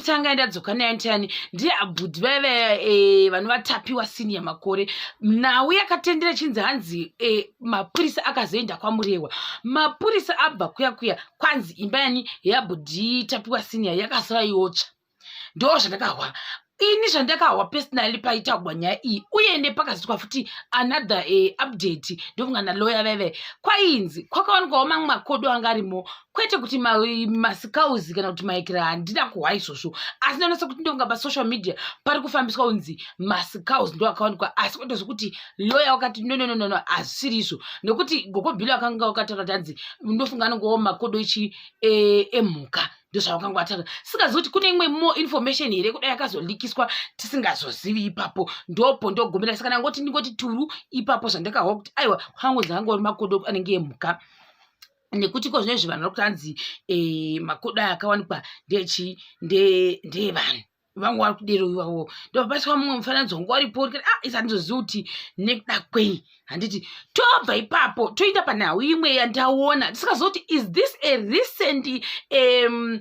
tanga ndadzoka nayo ndiani ndiye abhudhi vaya vaya eh, vanovatapiwa sini yamakore nhau yakatendera chinzi hanzi eh, mapurisa akazoenda kwamurewa mapurisa abva kuya kuya kwanzi imba yani yabhudhi tapiwa sini ya yakasara yotsva ndo zvandakahwa ini zvandakahwa personally paitagwa nyaya iyi uye nepakazoitwa futi another uh, update ndofunga naloya veve kwainzi kwakawanikwawo mamwe makodo anga arimo kwete kuti masikauzi kana kuti maikira handina kuhwa izvozvo asi ndonasa kuti ndonga pasocial media pari kufambiswa kunzi masikauzi ndo akawanikwa asi kwete zvekuti loya wakati nonononono hazvisiri izvo nekuti gokobhilo akanga wakataura kuti hanzi ndofunga anongowo makodo ichi eh, emhuka e ndozvavakanga vatanga sikazi kuti kune imwe mo information here kudai yakazolikiswa tisingazozivi ipapo ndopo ndogomera saka ndangoti ndingoti turu ipapo zvandakahwa kuti aiwa kwangu zvaanga uri makodo anenge emhuka nekuti ko zvinezvi vanhu vari kutanzi e, makodo aya akawanikwa ndechi ndeevanhu vangu vari kudero ivavo ndopapaiswa mumwe mufananidzo wangu waripo uri kuti ah isa ndizoziva kuti nekuda kwei handiti tobva ipapo toenda panhau imwe yandaona ndisikazoti is this a recent um,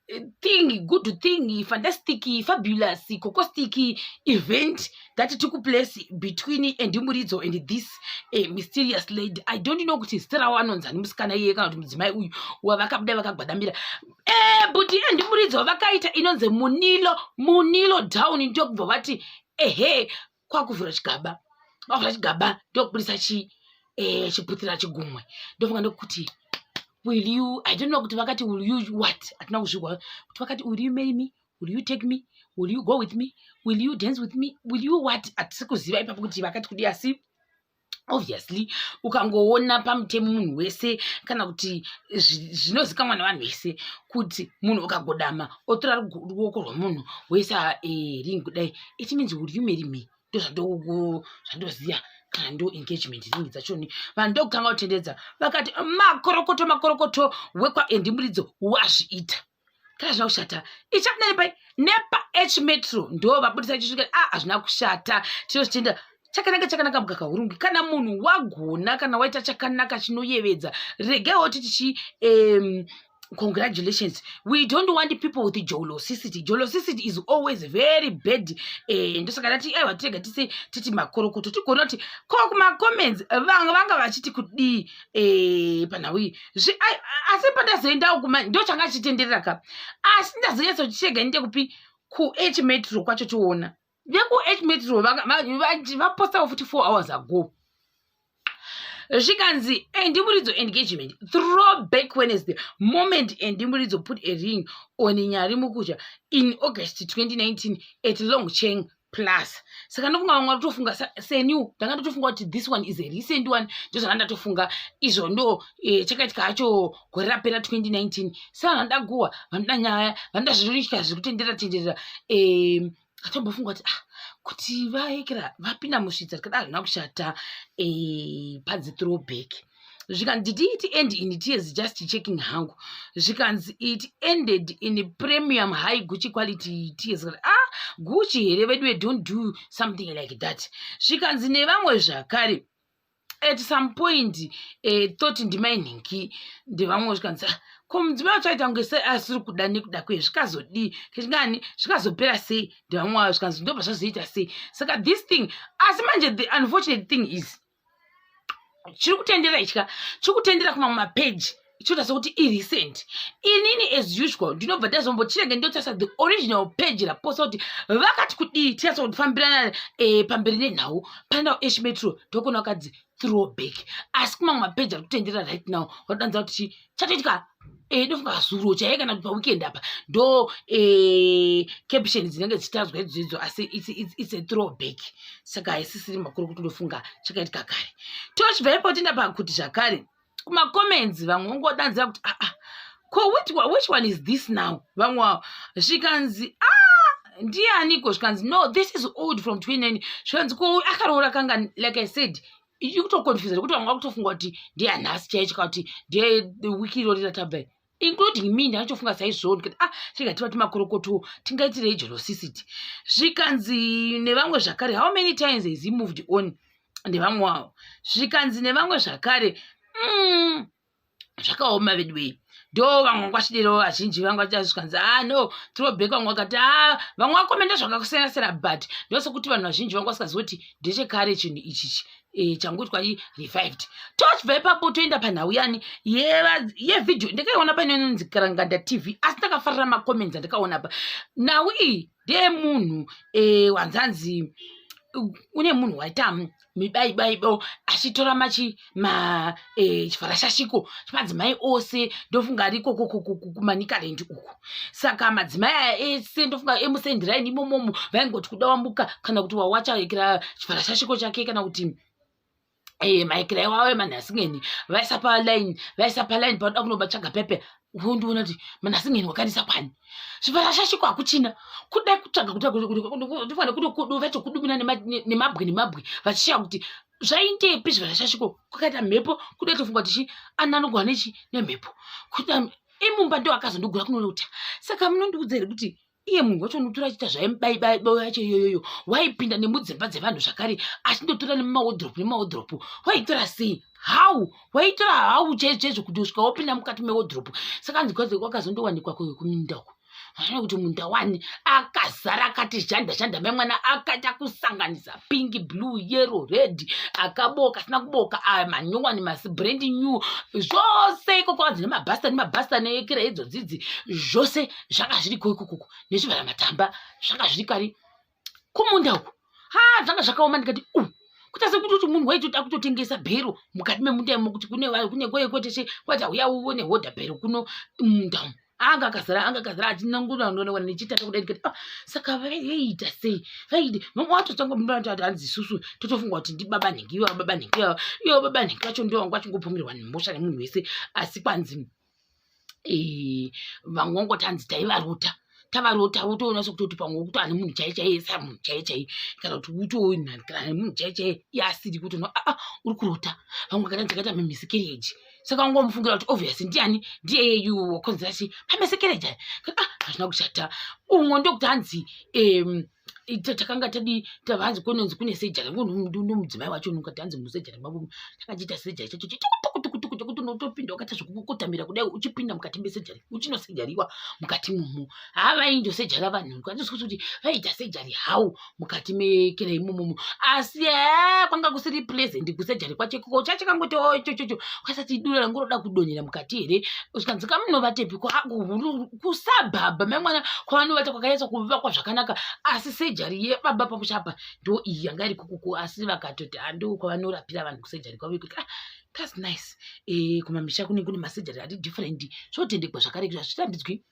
eh, thing good thing fantastic fabulous cocostic event that took place between andimuridzo and this uh, mysterious lady i don't know kuti zita ravo anonzani musikana iye kana kuti mudzimai uyu wavakabuda vakagwadamira e eh, but andimuridzo vakaita inonzi munilo munilo down ndokubva vati ehe kwakuvhura chigaba kwakuvhura chigaba ndokubudisa chi eh, chiputira chigumwe ndofunga ndokuti will you i don't know kuti vakati will you what hatina kuzvigwa kuti vakati will you marry me will you take me will you go with me will you dance with me will you what hatisi kuziva ipapo kuti vakati kudi asi obviously ukangoona pamutemo munhu wese kana kuti zvinozikamwa nevanhu vese kuti munhu ukagodama otora ruoko rwemunhu woisa eh, ring kudai it means uri umeri me ndozvandoziva kana ndo engagement ring dzachoni vanhu ndokutanga kutendedza vakati makorokoto makorokoto wekwaendimuridzo wazviita kana zvina kushata ichapinda nepai nepa h metro ndo vabudisa ichisvika a ah, hazvina kushata tinozvitenda chakanaka chakanaka mukaka hurungi kana munhu wagona kana waita chakanaka chinoyevedza regai woti tichi um, congratulations we don't want people with jolosicity jolosicity is always very bad eh, ndosaka ndati aiwa tirega tise titi makorokoto tigona kuti ko kumacomments vanga vanga vachiti kudii eh, panhau iyi asi pandazoendawo kuma ndo changa chitenderera ka asi ndazonyatsochitega ndite kupi kuh metro kwacho toona vekuh metro vapostawo futi four hours ago zvikanzi endimuridzo eh, engagement throw back wednesday moment endimuridzo eh, put a ring on nyari mukutya in august 2019 at long cheng plus saka ndofunga vamwe vatofunga seniw ndanga ndotofunga kuti this one is a recent one ndozvanga ndatofunga izvo ndo eh, chakaitika hacho gore rapera 2019 sa vanhu vanoda guhwa vanoda nyaya vanoda zvinoitika zviri kutenderera tenderera eh, atombofunga kuti ah kuti vaekera vapinda musvitsa tikada hazvina kushata eh, padzi throwback eh, zvikanzi did it end in tears just checking hangu zvikanzi it ended in premium high gucci quality tears ah gucci here vedu we don't do something like that zvikanzi nevamwe zvakare at some point eh, thought ndimainhingi ndevamwe zvikanzi ah, ko mudzimai wacho aita kunge sei asiri kuda nekuda kwe zvikazodii kechingani zvikazopera sei ndevamwe vavo zvikanzi ndobva zvazoita sei saka this thing asi manje the unfortunate thing is chiri kutendera ichika chiri kutendera kumamwe mapeji ichoita sekuti irecent inini as usual ndinobva ndazombochirege ndotarisa the original page raposa kuti vakati kudii tinasa kufambirana e, eh, pamberi nenhau pandawo esh metro ndokona vakadzi throwback asi kumamwe mapeji ari kutendera right now vatodanza kuti chatoitika eh, ndofunga zuro chaiye kana kuti paweekend apa ndo eh, caption dzinenge dzichitadzwa idzo idzo asi its a throwback saka haisisiri makuru kuti ndofunga chakaitika kare tochibva ipo tienda pakuti zvakare kumacomments vamwe vongodanzira kuti aa ah, ah, ko which one is this now vamwe zvikanzi a ah, ndianiko zvikanzi no this is old from 29 zvikanzi ko akaroora kanga like i said ikutoconfusa nekuti vanga kutofunga kuti ndiyanhasi chaicho ka kuti ndiye wiki irori ratabva including me ndakatofunga saizvoo ndikati ah tinga tivati makorokoto tingaitirei jerosisiti zvikanzi nevamwe zvakare how many times has he moved on nevamwe wavo zvikanzi nevamwe zvakare mm, zvakaoma veduwei ndo vamwe vanga vachidero vazhinji vanga vachazvikanzi a ah, no trobek vamwe vakati a ah, vamwe vakomenda zvakakusiyana siyana but ndosekuti vanhu vazhinji vanga vasikazivi kuti ndechekare chinhu ichichi Eh, changoitwa i revived tochibva ipapo toenda panhau yani yevhidhio ndakaiona painononzi karanganda tv asi ndakafarira macomments andakaona pa nhau iyi ndiye munhu eh, wanzanzi une munhu waita mibaibaibo achitora machi ma eh, chifarashashiko chemadzimai ose ndofunga ariko kumanikaland uku saka madzimai aya ese ndofunga emusendiraini imomomo vaingoti kuda wambuka kana kuti wawacha ekera chifarashashiko chake kana kuti e, eh, maikira iwawo emanhasingeni vaisa palaini vaisa palaini panoda kunobatsvaga pepe wondiona kuti manhasingeni wakanisa kwani zvivarashashiko hakuchina kudai kutsvaga kutofane kudovachokudumina nemabwe nemabwe vachishaya kuti zvaindepi zvivarashashiko kwakaita mhepo kudai tofunga kuti chi ana anogwana ichi nemhepo kuda imumba ndo akazondogura kunoona kuti saka munondiudza here kuti iye munhu wacho unotora achiita zvaimubaibaibao yacho iyoyoyo waipinda nemudzimba dzevanhu zvakare achindotora nemumawodhiropu nemumawodhiropu waitora sei how waitora how chaizvochaizvo kuti usvika wopinda mukati mewodhiropu saka anzi wakazondowanikwa kuminda uko aona kuti munda wani akazara akati zhanda zhanda mai mwana akaita kusanganisa pink blue yero red akaboka asina kuboka aya ah, manyowani masi brand new zvose ikoko anzi nemabhasta nemabhasta neekira idzo dzidzi zvose zvanga zviriko ikukuku nezvivhara matamba zvanga zviri kari kumunda uku ha zvanga zvakaoma ndikati u kuita sekuti kuti munhu waitoti akutotengesa bhero mukati memunda imo kuti kune kune kweye kweteshe kwati auya uone hodha bhero kuno munda umu anga akazara anga akazara achinangura anoona wana nechitata kudai ndikati ah saka vaiita sei vaidi mama watotanga munda wati hanzi isusu totofunga kuti ndi baba nhingi ivo baba nhingi ivo baba nhingi vacho ndivo vanga vachingopomerwa nemhosva nemunhu wese asi kwanzi eh, vamwe vangoti hanzi taivarota tavarota utoona sokutoti pamwe wokuti ane munhu chai chaiye sa munhu chai chai kana kuti utoona kana ane munhu chai chaiye yaasiri kuti no aa ah, ah, uri kurota vamwe kana dzakaita mamisekereji saka ungomufungira kuti obviously ndiani ndiye yeyu wakonzera chii pamisekereji aya ah, hazvina kushata umwe ndokuti hanzi um, ta- takanga tadi tavanzi kononzi kune sejari nomudzimai wacho nokati hanzi musejari mavo takachiita sejari chacho chitukutukutukutuku chekuti unotopinda wakaita zvekukotamira kudai uchipinda mukati mesejari uchinosejariwa mukati momo haa vainjosejara vanhu kwanzosikuti kuti vaiita sejari how mukati mekera imomomo asi haa kwanga kusiri pleasant kusejari kwacho ikoko chachakangoto chochocho kwasati dura rangu roda kudonhera mukati here zvikanzi kamunovatepi kusabhabha memwana kwavanovata kwakanyatsa kuvakwa zvakanaka asi sejari yebaba pamuchapa ndo iyi yanga iri kukuku asi vakatoti ando kwavanorapira vanhu kusejari kwavo ikuti ah, thats nice e, kumamisha kune kune masejari ati different zvotendekwa zvakare kuti hazvitambidzwi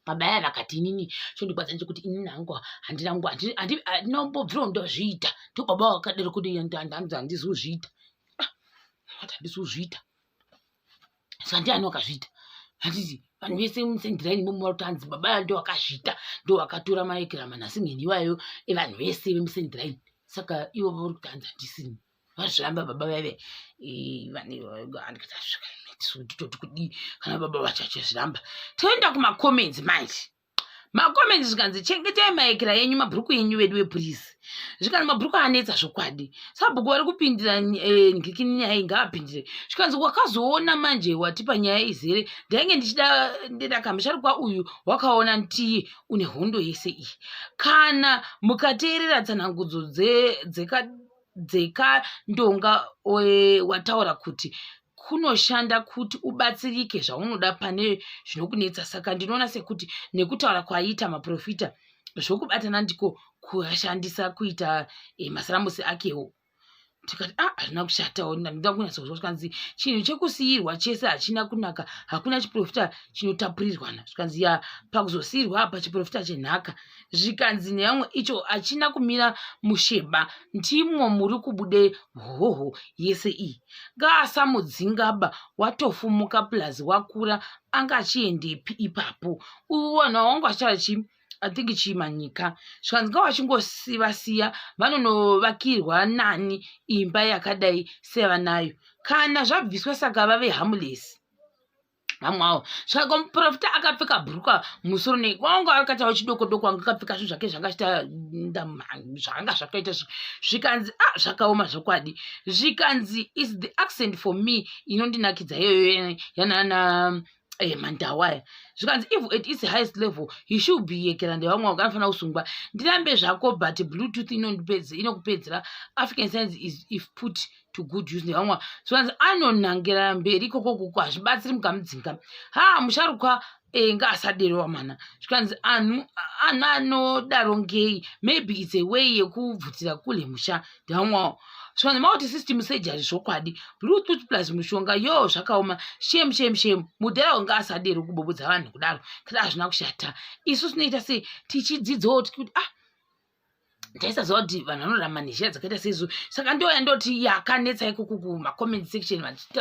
pabaya vakati inini chondikwadza nechekuti inini hangu handina nguva handinombobvirawo ndozviita ndo baba vakadero kuti handizozviita ah, handizozviita saka ndiani wakazviita handiti vanhu vese musendiraini imomo vari kutanzi baba aya ndo wakazviita ndo wakatora maekirama nhasi ngeni iwayo evanhu vese vemusendiraini saka ivo vari kutanzi handisini vazviramba baba vaive vandiitoti kudii kana baba vacho vachizviramba toenda kumacomments manje makomendi zvikanzi chengetai maekera yenyu mabhuruku yenyu vedu wepurisi zvikanzi mabhuruku anetsa zvokwadi sabhuku vari kupindira eh, ndikini nyaya iyi ngaapindire zvikanzi wakazoona manje watipa nyaya izere ndainge ndichida ndedaka musharukwa uyu wakaona ntii une hondo yese iyi kana mukateerera tsanangudzo dzeka dzekandonga wataura kuti kunoshanda kuti ubatsirike zvaunoda pane zvinokunetsa saka ndinoona sekuti nekutaura kwaiita maprofita zvokubatana ndiko kuashandisa kuita eh, masaramusi akewo tikati a ah, hazvina kushatawo ndinoda kunyatsozwa zvikanzi chinhu chekusiyirwa chese hachina kunaka hakuna chiprofita chinotapurirwana zvikanzi ya pakuzosiyirwa apa chiprofita chenhaka zvikanzi neyamwe icho achina kumira musheba ndimwo muri kubude hoho yese iyi ngaasamudzingaba watofumuka plus wakura anga achiendepi ipapo uyu wanhu wangu achitara chii i think chimanyika zvikanzi nga vachingosivasiya vanonovakirwa nani imba yakadai sevanayo kana zvabviswa saka vave hamulesi vamwe avo saka muprofita akapfeka bhuruka musoro nei kwanga akatawo chidoko doko anga akapfeka zvinhu zvake zvakaita zvakanga zvakaita zvikanzi a ah, zvakaoma zvokwadi zvikanzi is the accent for me inondinakidza iyoyo yanana eh, mandawaya zvikanzi if at its highest level he should be yekera ndevamwe wanga anofanira kusungwa ndirambe zvako but bluetooth inondipedze inokupedzera african science is if put to good use nevamwe zvivanzi anonangirana mberi ikoko kuko hazvibatsiri mukamudzinga ha musharukwa eh, nga asadero wamana zvikanzi anhu anhu anodaro ngei maybe its a way yekubvutira kule musha ndevamwawo zvikanzi mauti system surgery zvokwadi bluetooth plus mushonga yo zvakaoma shem shem shem mudhara wanga asadero kubobodza vanhu kudaro kada hazvina kushata isu tinoita sei tichidzidzawo tikuti ah taisaziva kuti vanhu vanorarama nezhira dzakaita seizo saka ndoya ndoti yakanetsa ikoko kumacomment section vachita